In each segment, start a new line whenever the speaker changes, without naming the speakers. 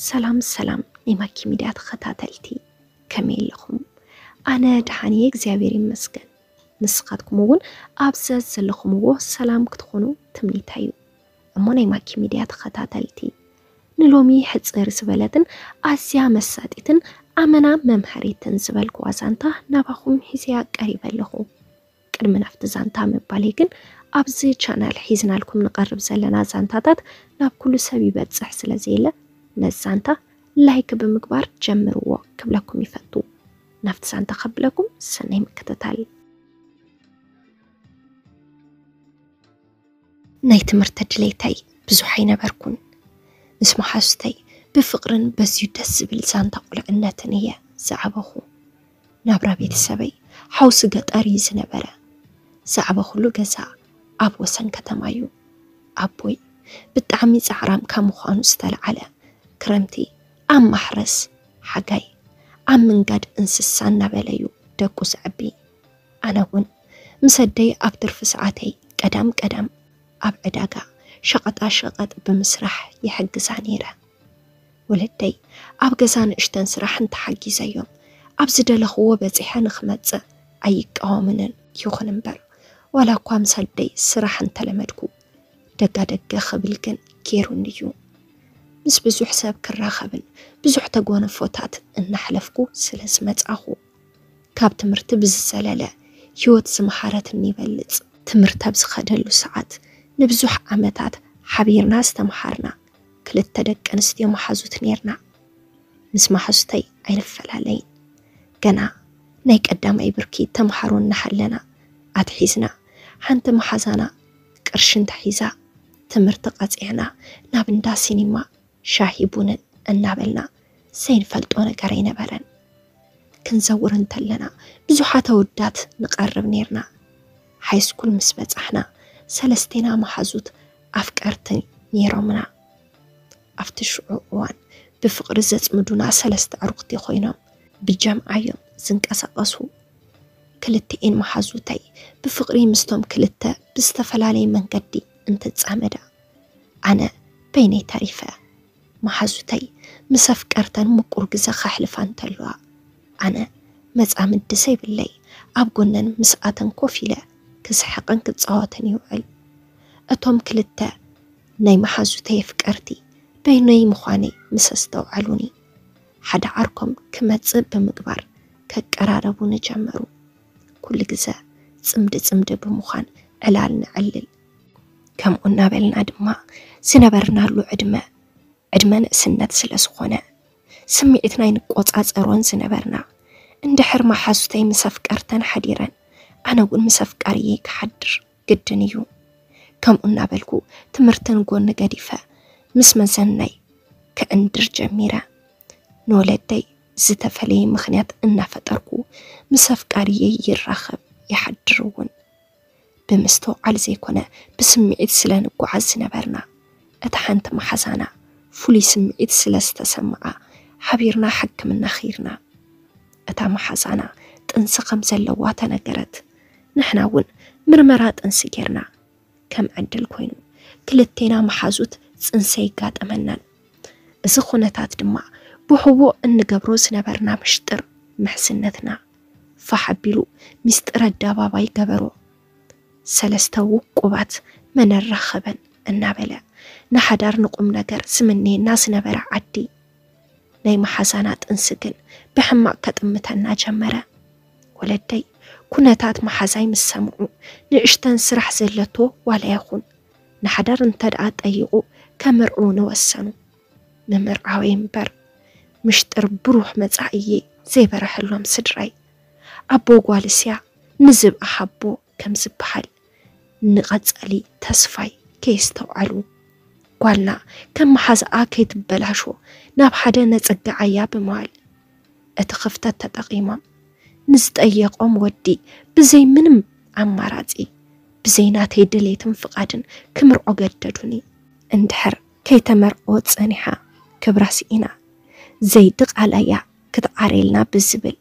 ሰላም ሰላም ናይ ማኪ ሚድያ ተኸታተልቲ ከመይ ኣለኹም? ኣነ ደሓን እየ እግዚኣብሔር ይመስገን። ንስኻትኩም እውን ኣብ ዘዘለኹምዎ ሰላም ክትኾኑ ትምኒተይ እዩ። እሞ ናይ ማኪ ሚድያ ተኸታተልቲ ንሎሚ ሕፅር ዝበለትን ኣዝያ መሳጢትን ኣመና መምሃሪትን ዝበልኩዋ ዛንታ ናባኹም ሒዘያ ቀሪበ ኣለኹ። ቅድሚ ናብቲ ዛንታ ምባለይ ግን ኣብዚ ቻናል ሒዝናልኩም ንቐርብ ዘለና ዛንታታት ናብ ኩሉ ሰብ ይበጽሕ ስለ ዘየለ ነዚ ዛንታ ላይክ ብምግባር ጀምርዎ ክብለኩም ይፈቱ። ናብቲ ዛንታ ከብለኩም ሰናይ ምክትታል። ናይ ትምህርቲ ድሌተይ ብዙሕ ኣይነበርኩን። ምስ መሓዙተይ ብፍቕርን በዝዩ ደስ ዝብል ዛንታ ቁልዕነትን እየ ዝዓበኹ። ናብራ ቤተሰበይ ሓውሲ ገጠር እዩ ዝነበረ። ዛዕባ ኩሉ ገዛ ኣብ ወሰን ከተማ እዩ። ኣቦይ ብጣዕሚ ፃዕራም ካብ ምዃኑ ዝተልዓለ ክረምቲ ኣብ ማሕረስ ሓጋይ ኣብ ምንጋድ እንስሳ እናበለ እዩ ደቁ ዘዕቢ። ኣነ እውን ምስ ኣደይ ኣብ ትርፊ ሰዓተይ ቀዳም ቀዳም ኣብ ዕዳጋ ሸቐጣ ሸቐጥ ብምስራሕ ይሕግዛ ነይረ። ወለደይ ኣብ ገዛ ንእሽተን ስራሕ እንተሓጊዘዮም ኣብ ዝደለኽዎ በጺሐ ንኽመጽእ ኣይቃወምንን። ይኹን እምበር ዋላ እኳ ምስ ኣደይ ስራሕ እንተለመድኩ ደጋ ደገ ክብል ግን ገይሩኒ እዩ። ምስ ብዙሕ ሰብ ክራኸብን ብዙሕ ተጓንፎታት እናሕለፍኩ ስለ ዝመጻኹ ካብ ትምህርቲ ብዝዘለለ ህይወት ዝመሃረትኒ ይበልጽ። ትምህርቲ ኣብ ዝኸደሉ ሰዓት ንብዙሕ ዓመታት ሓቢርና ዝተመሃርና ክልተ ደቂ ኣንስትዮ መሓዙት ኔርና። ምስ መሓዙተይ ኣይንፈላለይን። ገና ናይ ቀዳማይ ብርኪ ተምሃሮ እናሃለና ኣትሒዝና ሓንቲ መሓዛና ቅርሺ እንተሒዛ ትምህርቲ ቀጺዕና ናብ እንዳ ሲኒማ ሻሂ ቡንን እናበልና ዘይንፈልጦ ነገር ኣይነበረን። ክንዘውር እንተለና ብዙሓት ኣወዳት ንቐርብ ኔርና። ሃይስኩል ምስ በጻሕና ሰለስቴና መሓዙት ኣፍቀርትን ነይሮምና። ኣብቲ ሽዑ እዋን ብፍቕሪ ዘጽምዱና ሰለስተ ኣዕሩኽቲ ኮይኖም ብጀምዓ'ዮም ዝንቀሳቐሱ። ክልቲኤን መሓዙተይ ብፍቕሪ ምስቶም ክልተ ብዝተፈላለየ መንገዲ እንትጻመዳ፣ ኣነ በይነይ ተሪፈ። መሓዙተይ ምስ ኣፍቀርተን ምቁር ግዘ ከሕልፋ እንተለዋ፣ ኣነ መጻምዲ ዘይብለይ ኣብ ጎነን ምስኣተን ኮፍ ኢለ ክስሕቕን ክጻወትን ይውዕል። እቶም ክልተ ናይ መሓዙተይ ኣፍቀርቲ በይነይ ምዃነይ ምስ ኣስተውዓሉኒ፣ ሓደ ዓርኮም ክመጽእ ብምግባር ከቀራረቡኒ ጀመሩ። ኩሉ ግዘ ጽምዲ ጽምዲ ብምዃን ዕላል ነዕልል። ከምኡ እናበልና ድማ ዝነበርናሉ ዕድመ ዕድመ ንእስነት ስለ ዝኾነ ስምዒት ናይ ንቆፃፀሮን ዝነበርና እንድሕር መሓዙተይ ምስ ኣፍቀርተን ሓዲረን ኣነ እውን ምስ ኣፍቃርየይ ክሓድር ግድን እዩ ከምኡ እናበልኩ ትምህርትን ጎኒ ገዲፈ ምስ መዘናይ ከእንድር ጀሚረ ንወለደይ ዝተፈለየ ምክንያት እናፈጠርኩ ምስ ኣፍቃርየይ ይራኸብ ይሓድር እውን ብምስትውዓል ዘይኮነ ብስምዒት ስለ ንጎዓዝ ዝነበርና እታ ሓንቲ መሓዛና ፍሉይ ስምዒት ስለ ዝተሰመዓ ሓቢርና ሕክምና ኺድና እታ መሓዛና ጥንሲ ከም ዘለዋ ተነገረት ንሕና እውን ምርመራ ጥንሲ ጌርና ከም ዕድል ኮይኑ ክልቴና መሓዙት ጽንሲ ኣይጋጠመናን እዚ ኩነታት ድማ ብሕቡእ እንገብሮ ዝነበርና ምሽጥር ምሕዝነትና ፋሕ ኣቢሉ ሚስጥር ኣደባባይ ገበሮ። ሰለስተ ውቁባት መን ኣራኸበን እናበለ ንሓዳር ንቁምነገር ዝምነየና ዝነበረ ዓዲ ናይ መሓዛና ጥንሲ ግን ብሕማቕ ከጥምተና ጀመረ። ወለደይ ኩነታት መሓዛይ ምስ ሰምዑ ንእሽተን ስራሕ ዘለቶ ዋላ ይኹን ንሓዳር እንተደኣ ጠይቑ ከምርዕዉኒ ወሰኑ። ንምርዓወይ እምበር ምሽጥር ብሩህ መጻኢየይ ዘይበረሐሎም ስድራይ ኣቦ ጓልስያ ንዝብኢ ሃቦ ከም ዝበሃል ንቐጻሊ ተስፋይ ከየስተውዓሉ ጓልና ከም መሓዝኣ ከይትበላሾ ናብ ሓደ ነጸግዓያ ብምባል እቲ ክፍተት ተጠቒሞም ንዝጠየቖም ወዲ ብዘይ ምንም ኣማራጺ ብዘይ ናተይ ድሌትን ፍቓድን ክምርዖ ገደዱኒ። እንድሕር ከይተመርዐወት ጸኒሓ ክብራ ስኢና ዘይድቓላያ ክትዓርየልና ብዝብል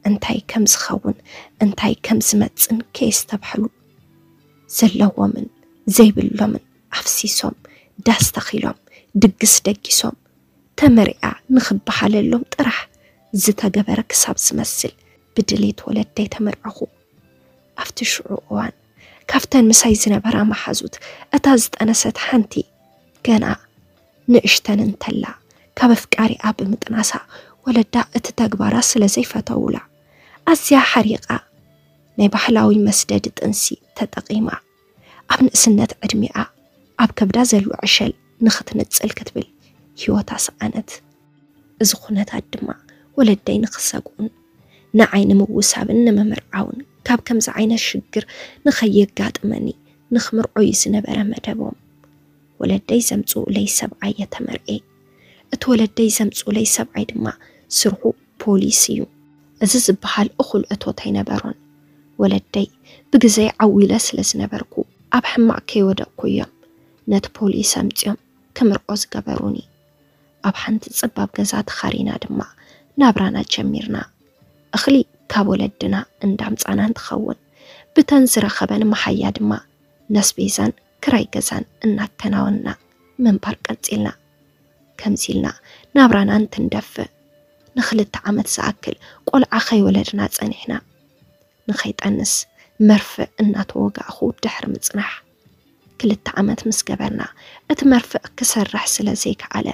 እንታይ ከም ዝኸውን እንታይ ከም ዝመጽን ከየስተብሐሉ ዘለዎምን ዘይብሎምን ኣፍሲሶም ዳስ ተኺሎም ድግስ ደጊሶም ተመሪዓ ንኽበሃለሎም ጥራሕ ዝተገበረ ክሳብ ዝመስል ብድሌት ወለደይ ተመርዐኹ። ኣብቲ ሽዑ እዋን ካብተን ምሳይ ዝነበራ መሓዙት እታ ዝጠነሰት ሓንቲ ገና ንእሽተን እንተላ ካብ ኣፍቃሪኣ ብምጥናሳ ወለዳ እቲ ተግባራ ስለ ዘይፈተውላ ኣዝያ ሓሪቓ ናይ ባህላዊ መስደዲ ጥንሲ ተጠቒማ ኣብ ንእስነት ዕድሚኣ ኣብ ከብዳ ዘሎ ዕሸል ንኽትንጽል ክትብል ህይወታ ሰኣነት። እዚ ኩነታት ድማ ወለደይ ንክሰግኡን ንዓይ ንምውሳብን ንምምርዓውን ካብ ከምዚ ዓይነት ሽግር ንከየጋጥመኒ ንክምርዖ እዩ ዝነበረ መደቦም። ወለደይ ዘምጽኡለይ ሰብኣይ እየ ተመርዕየ። እቲ ወለደይ ዘምጽኡለይ ሰብኣይ ድማ ስርሑ ፖሊስ እዩ። እዚ ዝበሃል እኹል እቶት ኣይነበሮን። ወለደይ ብግዘይ ዓው ኢለ ስለ ዝነበርኩ ኣብ ሕማቕ ከይወደቕኩ እዮም ነቲ ፖሊስ ኣምጺኦም ክምርዖ ዝገበሩኒ። ኣብ ሓንቲ ጸባብ ገዛ ተኻሪና ድማ ናብራና ጀሚርና። እኽሊ ካብ ወለድና እንዳምጻና እንትኸውን ብተን ዝረኸበን መሓያ ድማ ነስቤዛን ክራይ ገዛን እናከናወንና ምንባር ቀጺልና። ከምዚ ኢልና ናብራና እንትንደፍእ ንኽልተ ዓመት ዝኣክል ቆልዓ ከይወለድና ጸኒሕና። ንኸይጠንስ መርፍእ እናተወጋእኹ ድሕሪ ምጽናሕ፣ ክልተ ዓመት ምስ ገበርና፣ እቲ መርፍእ ክሰርሕ ስለ ዘይከኣለ፣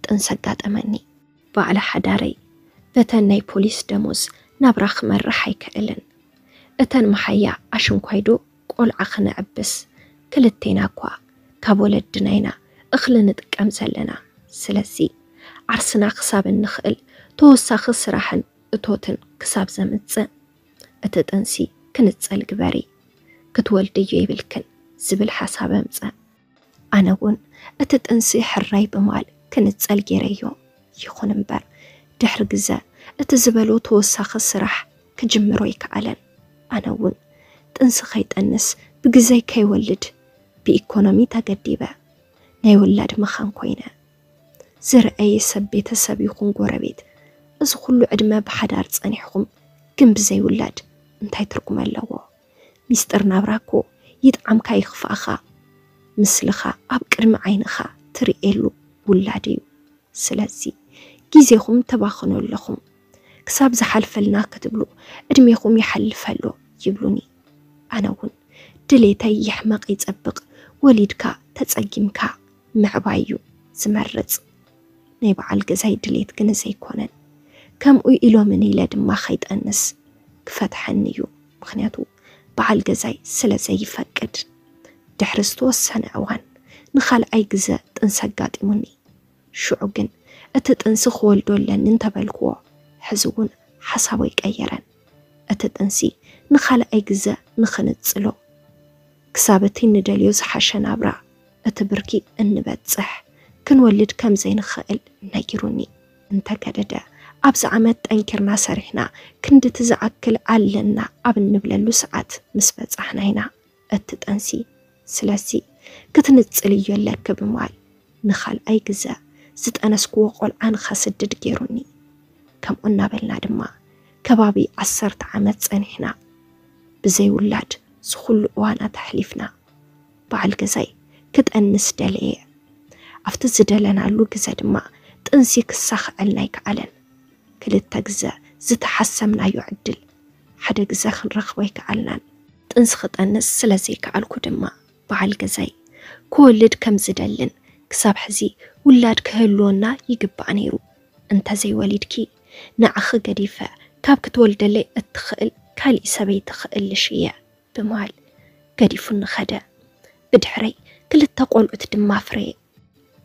ጥንሲ ኣጋጠመኒ። ባዕሊ ሓዳረይ፣ በተን ናይ ፖሊስ ደሞዝ ናብራ ክመርሕ ኣይክእልን። እተን መሓያ ኣሽንኳይዶ ቆልዓ ክነዕብስ፣ ክልቴና'ኳ ካብ ወለድና ኢና እኽሊ ንጥቀም ዘለና። ስለዚ፣ ዓርስና ክሳብ እንኽእል ተወሳኺ ስራሕን እቶትን ክሳብ ዘምጽእ እቲ ጥንሲ ክንጸል ግበሪ ክትወልድዮ የብልክን ዝብል ሓሳብ ኣምጸ። ኣነ ውን እቲ ጥንሲ ሕራይ ብማል ክንጸል ጌረዮ። ይኹን እምበር ድሕሪ ግዘ እቲ ዝበሎ ተወሳኺ ስራሕ ክጅምር ኣይከኣለን። ኣነ ውን ጥንሲ ከይጠንስ ብግዘይ ከይወልድ ብኢኮኖሚ ተገዲበ ናይ ውላድ መኻን ኮይነ። ዝረኣየ ሰብ ቤተሰብ ይኹን ጎረቤት እዚ ኩሉ ዕድመ ብሓዳር ጸኒሕኹም ግን ብዘይ ውላድ እንታይ ትርጉም ኣለዎ? ሚስጥር ናብራ እኮ ይጥዓምካ ይኽፋእኻ ምስልኻ ኣብ ቅድሚ ዓይንኻ ትርእየሉ ውላድ እዩ። ስለዚ ግዜኹም ተባኽኑ ኣለኹም ክሳብ ዝሓልፈልና ክትብሉ ዕድሜኹም ይሓልፍ ኣሎ ይብሉኒ። ኣነ እውን ድሌተይ ይሕመቕ ይጸብቕ ወሊድካ ተጸጊምካ ምዕባይ እዩ ዝመርጽ፣ ናይ በዓል ገዛይ ድሌት ግን እዚ ኣይኮነን፣ ከምኡ ኢሎምኒ ኢለ ድማ ከይጠንስ ክፈትሐኒ እዩ፣ ምኽንያቱ በዓል ገዛይ ስለ ዘይፈቅድ። ድሕሪ ዝተወሰነ እዋን ንኻልኣይ ግዘ ጥንሲ ኣጋጢሙኒ፣ ሽዑ ግን እቲ ጥንሲ ክወልዶ ኣለኒ እንተበልክዎ ሕዚ እውን ሓሳቡ ኣይቀየረን። እቲ ጥንሲ ንኻልኣይ ግዘ ንኽንጽሎ፣ ክሳብ እቲ ንደልዮ ዝሓሸ ናብራ፣ እቲ ብርኪ፣ እንበጽሕ፣ ክንወልድ ከም ዘይንኸእል ነጊሩኒ። እንተገደደ፣ ኣብዚ ዓመት ጠንኪርና ሰሪሕና ክንድቲ ዝኣክል ኣለና ኣብ እንብለሉ ሰዓት ምስ በጻሕና ኢና። እትጠንሲ ስለዚ ክትንጽል እዮ ኣለኪ ብማል ንካልኣይ ግዘ ዝጠነስክዎ ቆልዓ ንከስድድ ገይሩኒ ከምኡ እናበልና ድማ ከባቢ ዓሰርተ ዓመት ጸኒሕና ብዘይ ውላድ ዝኩሉ እዋናት ኣሕሊፍና በዓል ገዛይ ክጠንስ ደለየ ኣብቲ ዝደለናሉ ግዘ ድማ ጥንሲ ክሳኽዐልና ኣይከኣለን ክልተ ግዘ ዝተሓሰምናዮ ዕድል ሓደ ግዘ ክንረክቦ ኣይከኣልናን ጥንሲ ክጠንስ ስለ ዘይከኣልኩ ድማ በዓል ገዛይ ክወልድ ከም ዝደልን ክሳብ ሕዚ ውላድ ክህልወና ይግባእ ነይሩ፣ እንተ ዘይወሊድኪ ንዓኺ ገዲፈ ካብ ክትወልደለይ እትኽእል ካልእ ሰበይቲ ክእልሽ እየ ብምባል ገዲፉኒ ከደ። ብድሕረይ ክልተ ቆልዑት ድማ ኣፍረየ።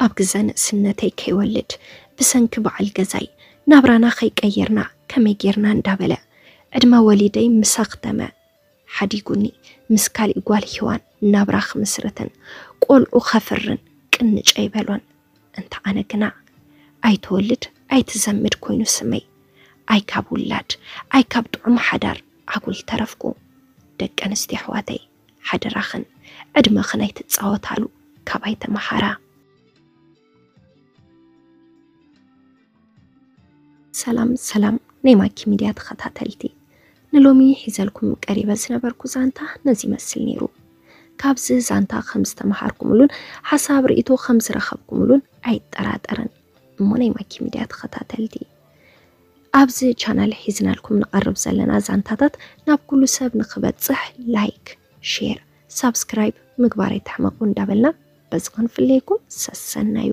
ኣብ ግዘ ንእስነተይ ከይወልድ ብሰንኪ በዓል ገዛይ ናብራና ከይቀየርና ከመይ ጌርና እንዳበለ ዕድመ ወሊደይ ምስ ኣኽተመ ሓዲጉኒ ምስ ካሊእ ጓል ሂዋን ናብራ ክምስርትን ቆልዑ ከፍርን ቅንጭ ኣይበሎን እንተ ኣነ ግና ኣይትወልድ ኣይትዘምድ ኮይኑ ስመይ ኣይ ካብ ውላድ ኣይ ካብ ጥዑም ሓዳር ኣጉል ተረፍኩ ደቂ ኣንስትዮ ኣሕዋተይ ሓደራኽን ዕድመኽን ኣይትጻወታሉ ካባይ ተመሃራ። ሰላም ሰላም ናይ ማኪ ሚድያ ተኸታተልቲ ንሎሚ ሒዘልኩም ቀሪበ ዝነበርኩ ዛንታ ነዚ ይመስል ነይሩ። ካብዚ ዛንታ ከም ዝተምሃርኩምሉን ሓሳብ ርእቶ ከም ዝረኸብኩምሉን ኣይጠራጠርን እሞ ናይ ማኪ ሚድያ ተኸታተልቲ ኣብዚ ቻናል ሒዝናልኩም ንቐርብ ዘለና ዛንታታት ናብ ኩሉ ሰብ ንክበፅሕ ላይክ፣ ሼር፣ ሳብስክራይብ ምግባር ኣይትሕመቑ እንዳበልና በዚ ክንፍለየኩም ሰሰናዩ